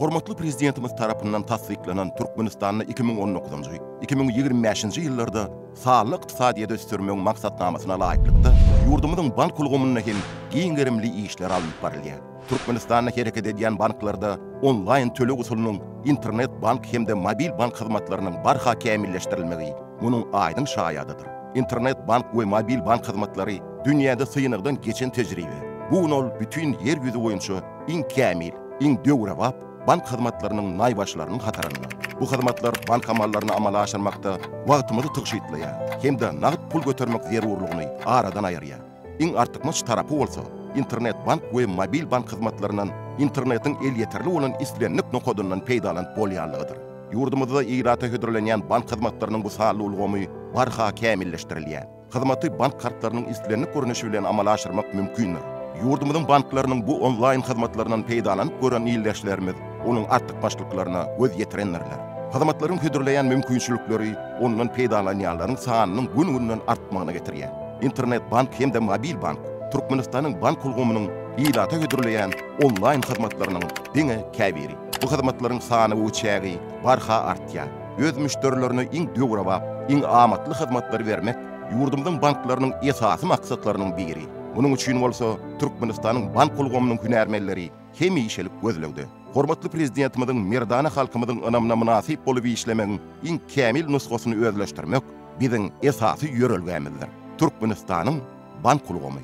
Hormatly Prezidentimiz tarapyndan tassyklanan Türkmenistanda iki müň on dokuzynjy, iki müň ýigrimi bäşinji ýyllarda sanly ykdysadyýeti ösdürmegiň maksatnamasyna laýyklykda, ýurdumyzyň bank ulgamynda hem giň gerimli işler alnyp barylýar. Türkmenistanda hereket edýän banklarda onlaýn töleg usulynyň, internet-bank hem-de mobil-bank hyzmatlarynyň barha kämilleşdirilmegi munuň aýdyň şaýadydyr. Internet-bank we mobil-bank hyzmatlary dünýäde synagdan geçen tejribe. Bu gün ol bütin Ýer ýüzi boýunça Iň kämil, iň döwrebap bank hyzmatlarynyň naýbaşylarynyň hatarynda. Bu hyzmatlar bank amallaryny amala aşyrmakda wagtymyzy tygşytlaýar hem-de nagt pul götermek zerurlygyny aradan aýyrýar. Iň artykmaç tarapy bolsa, Internet-bank we mobil bank hyzmatlaryndan internetiň elýeterli bolan islendik nokadyndan peýdalanyp bolýanlygydyr. Ýurdumyzda ilata hödürlenýän bank hyzmatlarynyň bu sanly ulgamy barha kämilleşdirilýär. Hyzmaty bank kartlarynyň islendik görnüşi bilen amala aşyrmak mümkindir. Ýurdumyzyň banklarynyň bu onlaýn hyzmatlaryndan peýdalanyp gören ildeşlerimiz onuň artykmaçlyklaryna göz ýetirendirler. Hyzmatlaryň hödürleýän mümkinçilikleri ondan peýdalanýanlaryň sanynyň gün-günden artmagyna getirýär. Internet-bank hem-de mobil bank Türkmenistanyň bank ulgamynyň ilata hödürleýän onlaýn hyzmatlarynyň diňe käbiri. Bu hyzmatlaryň sany we çägi barha artýar. öz müşderilerine iň döwrebap, iň amatly hyzmatlary bermek ýurdumyzyň banklarynyň esasy maksatlarynyň biri. Munuň üçin bolsa Türkmenistanyň bank ulgamynyň hünärmenleri hemişelik gözlegde. Hormatly Prezidentimiziň merdana halkymyzyň ynamyna mynasyp bolup işlemegiň iň kämil nusgasyny özleşdirmek biziň esasy ýörelgämizdir. Türkmenistanyň bank ulgamy.